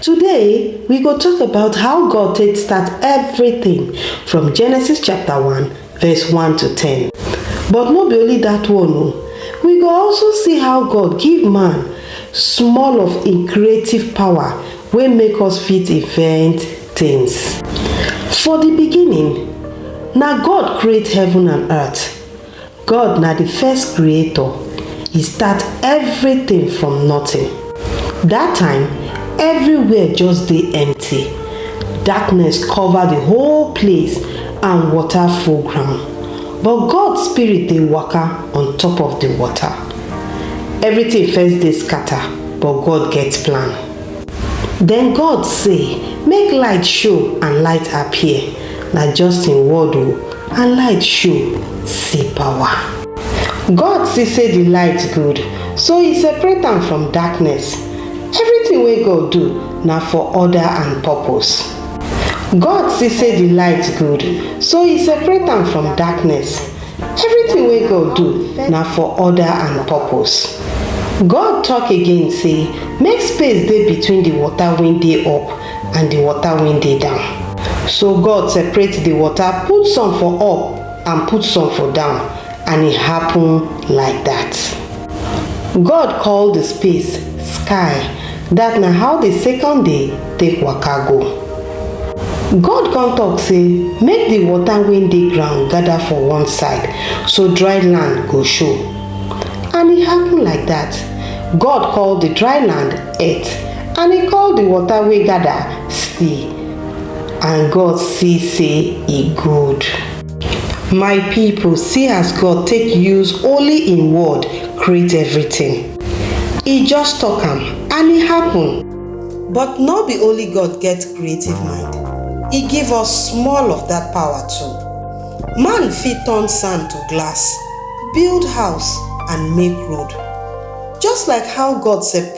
Today, we go talk about how God take start everything from Genesis chapter 1, verse 1 to 10. But no be only that one o. We go also see how God give man small of im creative power wey make us fit invent things. For the beginning, na God create heaven and earth. God na di first creator, e start evritin from notin. Dat time, evriwhere just dey empty, darkness cover di whole place and water full ground. But God spirit dey waka on top of di water. Evritin first dey scata, but God get plan. Den God sey, Make light show and light appear, na just im word o. And light show, see power. God see say the light good, so he separate am from darkness. Everything wey God do na for order and purpose. God see say the light good, so he separate am from darkness. Everything wey God do na for order and purpose. God talk again say, Make space dey between the water wey dey up and di water wey dey down. So God separate di water, put some for up and put some for down, and e happen like dat. God call di space sky, dat na how di second day take waka go. God come talk sey make di water wey dey ground gather for one side, so dry land go show. And e happen like dat. God call di dry land earth. And he called the water we gather sea. And God see say e good. My people, see as God take use only in word create everything. He just talk am and it happen. But not be only God get creative mind. He give us small of that power too. Man fit turn sand to glass, build house and make road. Just like how God separate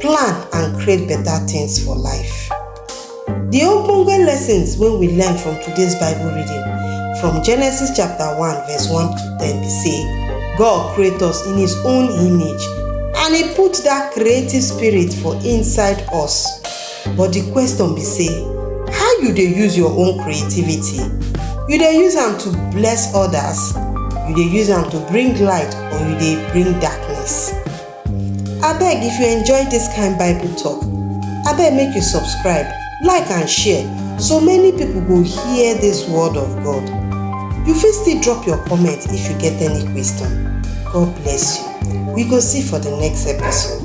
plan and create better things for life. The ogbonge lessons wey we learn from today's Bible reading from Genesis chapter 1 verse 1 to 10 be say God create us in his own image and he put that creative spirit for inside us. But the question be say, how you dey use your own creativity? You dey use am to bless others? You dey use am to bring light or you dey bring darkness? abeg if you enjoy this kind bible talk abeg make you subscribe like and share so many people go hear this word of god you fit still drop your comment if you get any question god bless you we go see for the next episode